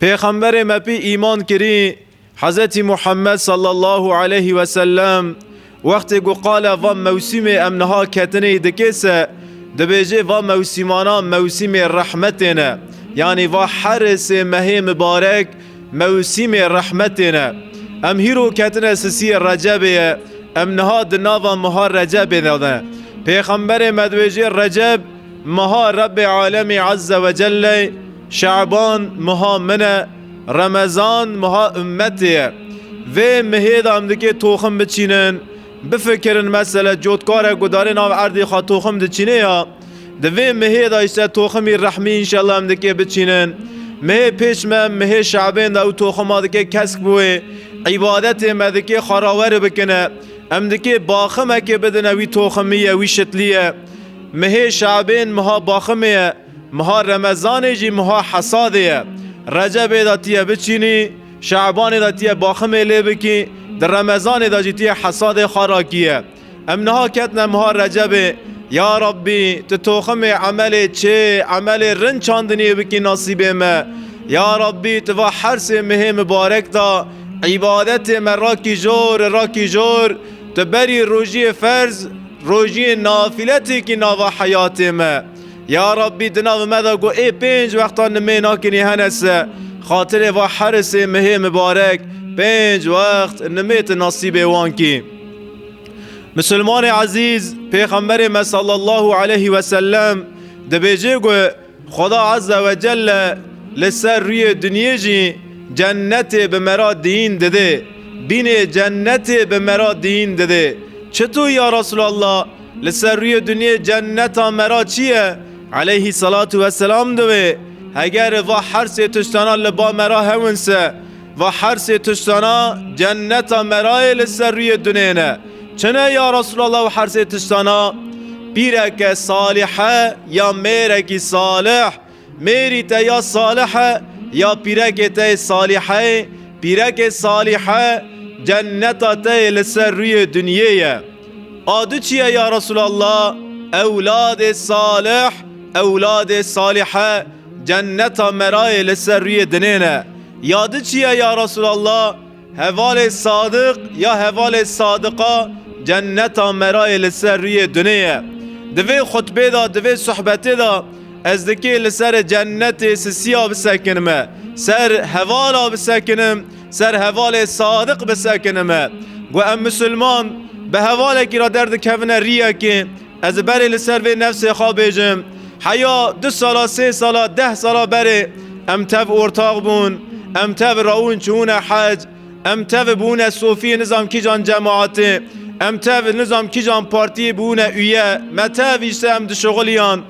Pêxemberê me pî îman kirî, Hezretî Muhammed sallallahu aleyhî ve sellem, wextê ku qala va mewsîmê em niha ketinê dike se, dibêje va mewsîmanan mewsîmê rehmetê ne. Yanî va herê sê mehê mibarek mewsîmê rehmetê ne. Em hîro ketine sisiyê Recebê ye, em niha di nava meha Recebê de ne. Pêxemberê me dibêje Receb meha Rebbê Alemî Ezze ve Celle ye, Şaban meha min e, Remezan meha ummetê ye. Vê mihê de em dikê toxim biçînin. Bifikirin mesele cotkarek gudarê nav erdê xwe toxim diçînê ya. Di vê mihê de îşte toximî rehmî înşellah em dikê biçînin. Mihê pêş me mihê şabên de ew toxima dikê kesk biwê. Îbadetê me dikê xwe raweri bikine. Em dikê baximekê bidine wî toximî ye wî şitlî ye. Mihê şabên meha baximê ye. Meha Remezanê jî meha hesadê ye. Recebê de tîye biçînî, Şabanê de tîye baximê lê bikî, di Remezanê de jî tîye hesadê xwe rakîye. Em niha ketine meha Recebê, ya Rabbî tu toximê emelê çê, emelê rind çandiniyê bikî nasîbê me. Ya Rabbî tu va her sê mehê mibarek de îbadetê me rakî jor û rakî jor, tu berî rojiyê ferz, rojiyê nafile têkî nava heyatê me. Ya Rabbî di navê me de ku ê pênc wextan nimê nakinî hene se, xatirê va herisê mihê mibarek pênc wext nimê tu nasîbê wan kî. Misilmanê ezîz, Pêxemberê me sallallahu aleyhî wesellem dibêje ku Xweda Azze ve Celle li ser rûyê dinyê jî cennetê bi mera diyîn didê. Bînê cennetê bi mera diyîn didê. Çi tu ya Resûlallah? Li ser rûyê dinyê cenneta me ra çi ye? Eleyhî selatu weselam diwê, Heger va her sê tiştana li ba me ra hewin se, va her sê tiştana cenneta me ra yê li ser rûyê dinyê ne. Çi ne ya Resûlallah ew her sê tiştana? Pîreke salîhe ya mêrekî salîh. Mêrî te ya salih e ya pîrekê te yê salîheyê, pîrekê salîhe cenneta te yê li ser rûyê dinyê ye. A du çi ye ya Resûlallah? Ewladê salih, ewladê salîhe cenneta me ra yê li ser rûyê dinê ne. Ya di çi ye ya Resûlallah? Hevalê Sadiq ya hevalê Sadiqa cenneta me ra yê li ser rûyê dunê ye. Di vê xutbê de, di vê sohbetê de ez dikê li serê cennetê sisiya bisekinime, ser hevala bisekinim, ser hevalê Sadiq bisekinime. Got em misilman bi hevalekî ra derdikevine rîyekê, Ez ê berê li ser vê nefsê xwe bêjim, heya du sala, sê sala, deh sala berê em tev ortax bûn, em tev rawin çûne hec, em tev bûne sofiyê nizam kîjan cemaatê, em tev nizam kîjan partiyê bûne uye, me tev îşte em dişuxiliyan,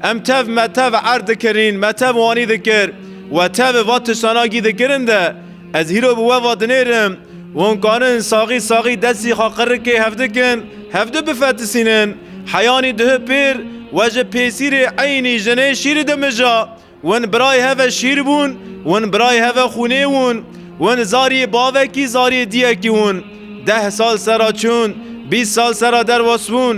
Em tev me tev erd dikirîn, me tev wanî dikir we tevê va tiştanagî dikirin de ez hîro bi we va dinêrim wan karin saxî saxî destî xwe qirikê hev dikin hev di bifetisînin heyanî duhi pêr we ji pêsîrê eynî jinê şîrî dimija win birayê heve şîr bûn win birayê heve xûnê wûn win zariyê bavekî zariyê diyekî wûn deh sal sera çûn bîst sal sera derwas bûn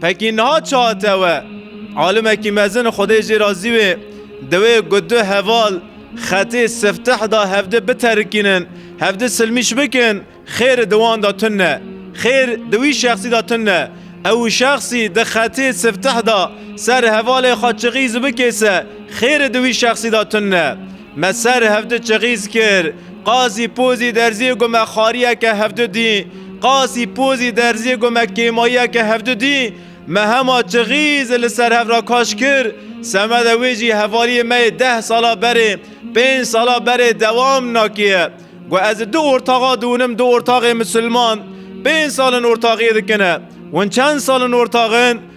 Pekî niha çi hate we? Alimekî mezin Xwedê jê razî wê dewê ku du heval xetê sifteh da hevdi biterikînin, hevdi silmîş bikin, xêr di wan da tun ne. Xêr di wî şexsî da tun ne. Ew şexsî di xetê sifteh da ser hevalê xwe çixîz bikêse, xêr di wî şexsî da tun ne. Me ser hevdu çixîz kir. Qasî Pozî Derzî got me xariyeke hevdu dî. Qasî Pozî Derzî got me kêmayiyeke hevdu dî. Me hema çixîz li ser hev re kaş kir. Semeda wê jî hevaliyê me yê deh sala berê, pênc sala berê dewam nakiye. Got ez di du ortaxa diûnim du ortaxê misilman pênc sal in ortaxiyê dikin e. Hûn çend sal in ortax in?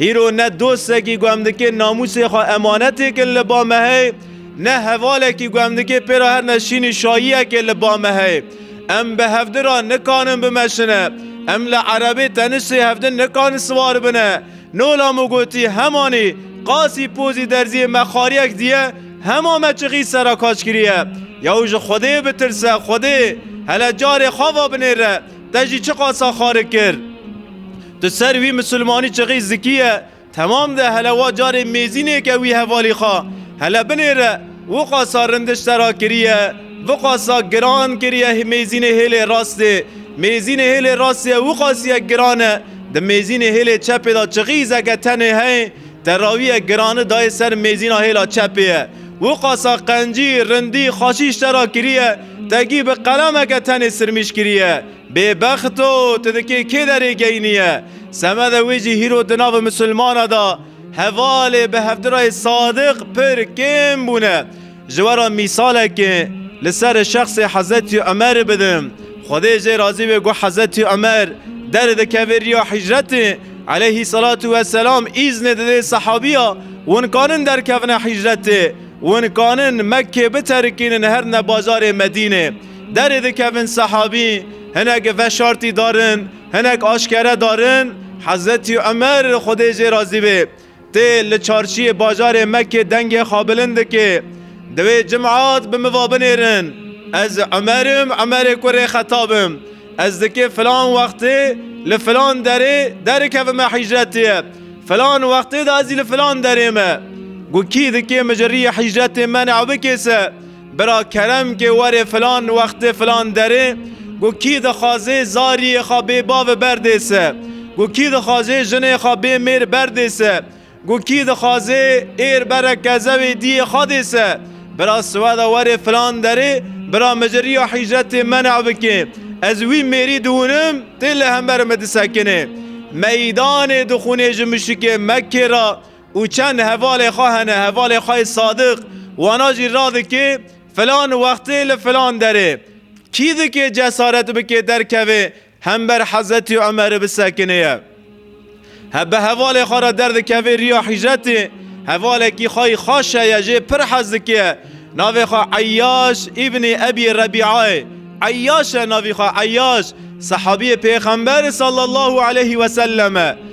Hîro ne dostekî ku em dikê namûsê xwe emanetê kin li ba me heye, ne hevalekî ku em dikê pê re her ne şînî şayiyekê li ba me heye. Em bi hevdin re nikanin bimeşine, em li erebê tenişê hevdin nikanin siwar bine. Nola min gotî hemanî qasî pozî derziyê me xariyek diye, hema me çixî sera kaç kiriye. Yaw ji Xwedê bitirse, Xwedê, hele carê xava binêre, te jî çi qasa xarik kir? Di ser wî misilmanî çixî zikî ye, temam de hele wa carê mêzînêke wî hevalî xwe hele binê re wiqasa rindiş ser a kiriye, viqasa giran kiriye mêzînê hêlê rastê. Mêzînê hêlê rastê wiqasîye giran e, di mêzînê hêlê çepê de çixî zeke tenê heye, terawîye girani dayê ser mêzîna hêla çepê ye. Wiqasa qencî, rindî, xaşîş ser a kiriye, tegî bi qelemeke tenê sirmîş kiriye. Bêbext o, tu dikê kê derê geyniye? Semede wê jî hîro di nava misilmana da hevalê bi hevdirayê sadiq pir kêm bûne. Ji we re mîsalekê li ser şexsê Hezetî Umerê bidim. Xwedê jê razî be ku Hezetî Umer derê dikeve riya hîcretê eleyhîselatû weselam îznê dide sehabiya win kanin derkevine hîcretê, win kanin Mekkê biterikînin herne bajarê Medînê. Derê dikevin sehabî hinek veşartî darin, hinek aşkere darin. Hezretî Umer li Xwedê jê razî be tê li çarşiyê bajarê Mekkê dengê xwe bilind dike. Di wê cimat bi min va binêrin ez Umer im, Umerê kurê Xetab im. Ez dikê filan wextê li filan derê derikevim me hicretê ye. Filan wextê de ez jî li filan derê me. Got kî dikê min ji riyê hicretê me newe bikêse? Bira kerem ke were filan wextê filan derê ku kî dixwazê zariyê xwe bê bavê berdê se, ku kî dixwazê jinê xwe bê mêr berdê se, ku kî dixwazê êr bere kezewê diyê xwe dê se, bira siweda were filan derê bira mi ji riya hîcretê mena bike, ez wî mêrî dihûnim tê li hember mi disekinê. Meydanê dixûnê ji mişikê Mekkê ra û çend hevalê xwe hene, hevalê xwe yê sadiq, wana jî radikê filan wextê li filan derê. Kî dikê cesaret bike derkeve hember Hezretî Umerê bisekinêye? He bi hevalê xwe re derdikeve riya hicretê, hevalekî xwe yê xaş heye jê pir hez dike, navê xwe Eyyaş îbnî Ebî Rebîayê, Eyyaş e navî xwe Eyyaş, sehabîyê Pêxemberê sallallahu aleyhî wesellem e.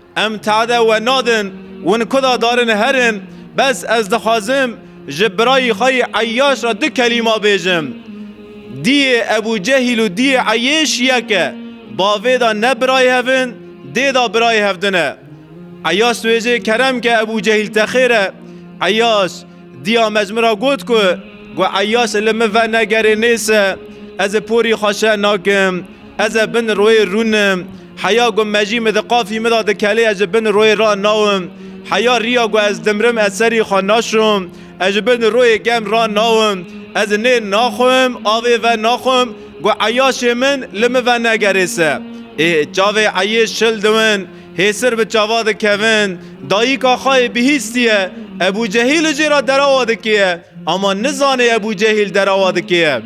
Em tade we nadin, win ku da darin herin, bes ez dixwazim ji birayî xwe yê Eyyaş re du kelîma bêjim. Diyê Ebû Cehîl û diyê Eyêş yek e. Bavê de ne birayê hev in, dê de birayê hev din e. Eyyaş dibêje kerem ke Ebû Cehîl te xêr e. Eyyaş. Diya mezmira got ku gu eyase li min ve negerê nêse ez ê porî xwe şeh nakim. Ez ê bin royê rûnim. Heya gu mejî min di qafî min de di kelê ez ji bin royê ra nawim. Heya riya gu ez dimrim ez serî xwe naşom. Ez ji bin royê gem ra nawim. Ez nê naxwim avê ve naxwim gu eyasê min li min ve negerê se. Ê çavê eyê şil diwin. Hêsir bi çava dikevin, dayîk Axayê bihîstiye, Ebû Cehîl li jê re derawa dikêye, ama nizanê Ebû Cehîl derawa dikêye.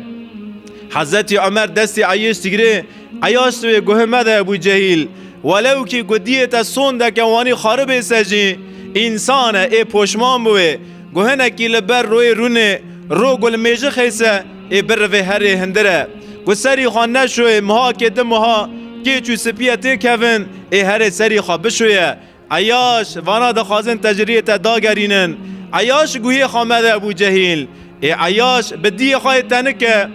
Hezretî Umer destê Eyêş digirê, Eyaş tu wê guhê mede Ebû Cehîl. Welewkî ku diyê te sondeke wanî xari bê se jî, însan e, ê poşman bi wê. Guhinekî li ber royê rûnê, ro gulmêjixê se, Ê bir rivê herê hindir e. Ku serî xwe neşoyê mihakê di miha kêç û sipiyê tê kevin ê herê serî xwe bişoye. Eyaş, vana dixwazin te ji riyê te dagerînin. Eyaş guhê xwe mede Ebû Cehîl. Ê eyaş bi diyê xwe yê tenik e.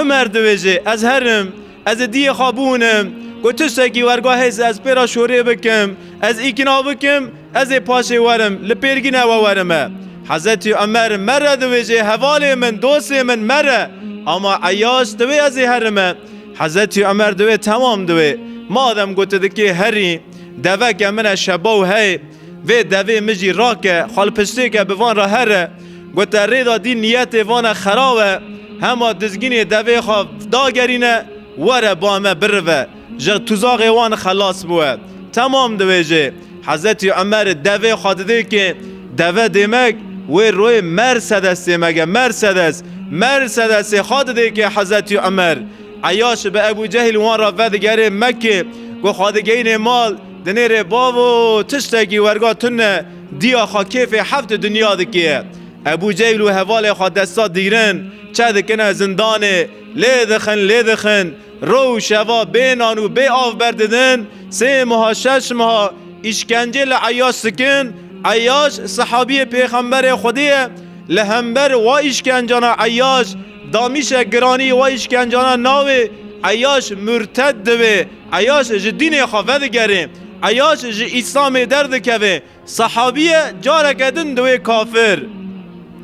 Umer diwêje, ez herim. Ez ê diyê xwe biûnim. Ku tiştekî werga hêz ez pê re şorê bikim, ez îkna bikim, ez ê paşê werim, li pêrgîne we werime. Hezretî Umer, Mere diwêjê hevalê min, dostê min, mere! Ama Eyaş divê ez ê herime. Hezretî Umer diwê, Temam divê. Madem ku tu dikê herî. Deveke min e şebaw hey. Vê devê min jî rake, xwe li piştêke bi van re here. Gote rêda dîn niyetê van e xerab e. Hema dizginê devê xwe dagerîne, were ba me birive. Ji tuzaxê wan xelas bûye. Temam dibêje. Hezetî Umer devê xwe dide kê. Deve dêmek wê royê Mersedes dêmek e. Mersedes! Mersedesê xwe dide kê Hezetî Umer. Eyaş bi Ebû Cehîl wan re vedigerê Mekkê. Ku xwe digihînê mal, Di nêrê bavo tiştekî werga tune dîya xwe kêfê heft di dinya dikê. Ebû Cehîl û hevalê xwe desta dîgrin çe dikine zindanê, lê dixin lê dixin, roj û şeva bê nan û bê av ber didin, sê meha şeş meha îşkencê li Eyyaş dikin, Eyyaş sihabiyê pêxemberê Xwedê ye, li hember wa îşkencana Eyyaş damîşek giranî wa îşkencana nawê Eyyaş murted dibe. Eyyaş ji dînê xwe vedigere, eyyaş ji Îslamê derdikeve, sehabî ye, careke din diwê kafir.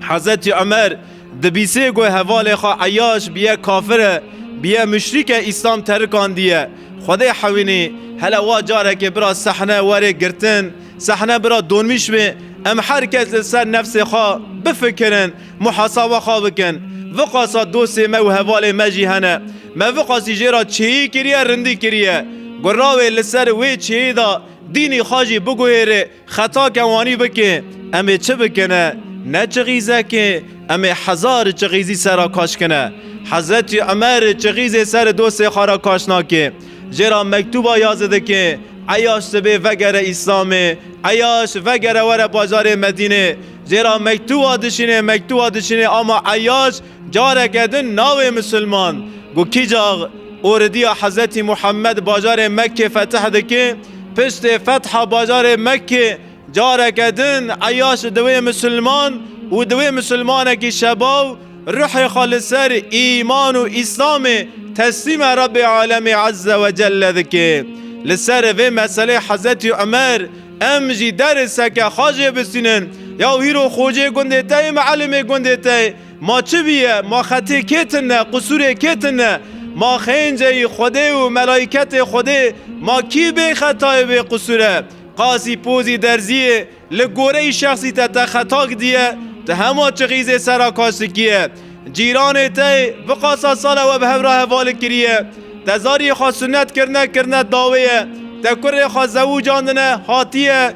Hezretî Umer dibîsê ku hevalê xwe Eyyaş bi ye kafir e, bi ye muşrîk e Îslam terikandiye. Xwedê hewînî, hele wa carekê bira sehne were girtin, sehne bira donmîş be, em her kes li ser nefsê xwe bifikirin, Muhasaba xwe bikin. Viqasa dostê me û hevalê me jî hene. Me viqasî jê ra çêyî kiriye, rindî kiriye. Gura wê li ser wê çêyî de dînî xwe jî biguhêrê, xeta ke wanî bikê. Em ê çi bikine? Ne çixîzekê, em ê hezar çixîzî ser re kaş kine. Hezretî Umer çixîzê ser dostê xwe re kaş nakê. Jê ra mektûba ya ze dikê, Eyaş sibê vegere Îslamê, Eyaş vegere were bajarê Medînê. Zêra mektuwa dişinê mektuwa dişinê ama Eyyaş careke din nawê misilman ku kîcax oridiya Hezretî Muhammed bajarê Mekkê fetih dike, piştê fetha bajarê Mekkê careke din Eyyaş diwê misilman û diwê misilmanekî şebaw ruhê xwe li ser îman û îslamê teslîme Rebê Alemê Ezze Wecelle dike. Li ser vê meselê Hezretî Umer Em jî derê seke xwe jê bisînin. Ya û hîro xocê gundê te yê, mielimê gundê te yê. Ma çi bîye, ma xetê kê tune, qisûrê kê tune? Ma xênceyî Xwedê û melaîketê Xwedê, ma kî bê xeta ye bê qisûr e? Qasî pozî derzî yê, li goreyî şexsî te te xeta gidiye, tu hema çixîzê sera kaşikî ye. Cîranê te yê biqasa sala we bi hev re hevalê kiriye. Te zariyê xwe sunet kirine, kirine dawê ye. Te kurê xwe zewicandine, hatiye.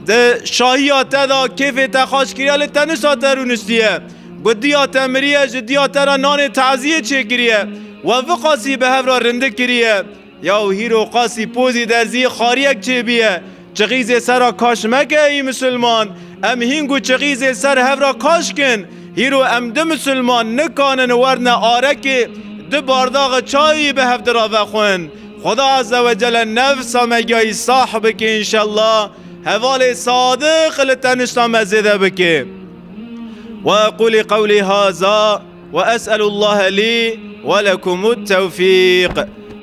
Di şahiya te de kêfê te xaş kiriye lê tenişta te rûniştiye. Ku diya te miriye ji diya te re nanê teziyê çêkiriye. We viqasî bi hev re rindik kiriye. Ya û hîro qasî pozî de zî xariyek çêbîye. Çixîzê ser ra kaş meke ey musulman. Em hîng û çixîzê ser hev ra kaş kin. Hîro em du musulman nikanin werne arekê du bardaxi çayî bi hev dira vexwin. Xweda Azewecele nefsa me giyayî sah bike înşella. Hevalê sadiq li tenişta me zêde bike. Wa eqûlî qewlî haza. Wa es'elûllahe lî we lekumût tewfîq.